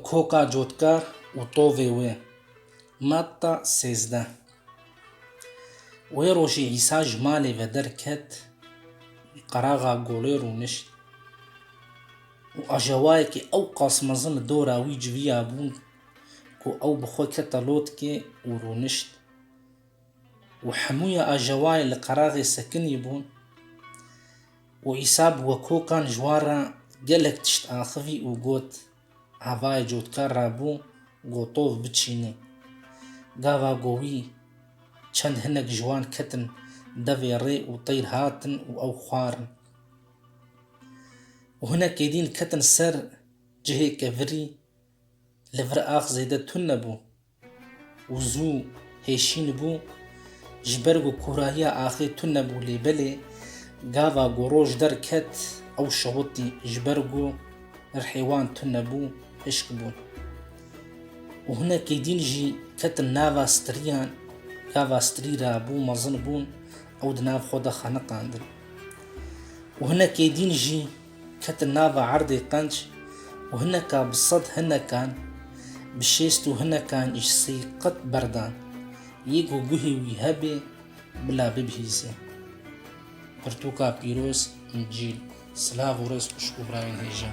Koka cotkar û tovê wê. Matta sêzdeh Wê rojî Îsa ji malê ve derket û qeraxa golê rûnişt û ajewayekî ew qas mezin li dora wî civiya bû ku ew bi xwe kete lotkê û rûnişt. Û hemûya ajawayê li qeraxê sekinî bûn û Îsa bi wekokan ji wan re gelek tişt axivî û got, Havayê cotkar re bû gotov biçînê. Gava ku wî çend hinek ji wan ketin devê rê û teyr hatin û ew xwarin. Û hinekê dîn ketin ser cihê kevirî, li vir ax zêde tun nebû, Wizû hêşîn bû. Ji ber ku kûrahiya axê tune bû lê belê gava ku roj derket ew şewitî ji ber ku rihê wan tune bû hişk bûn. Û hinekî dîn jî ketin nava stirîyan, gava stirî ra bû mezin bûn ew di nav xwe de xeniqandin. Û hinekî dîn jî Ketin nava erdê qenc û hineka bi sed hinekan, bi şêst û hinekan î sey qet berdan. Yê ku guhê wî hebê, bila bibihîzê. Pirtûka pîroz, Încîl, silav û rêz xwişk û birayên hêja.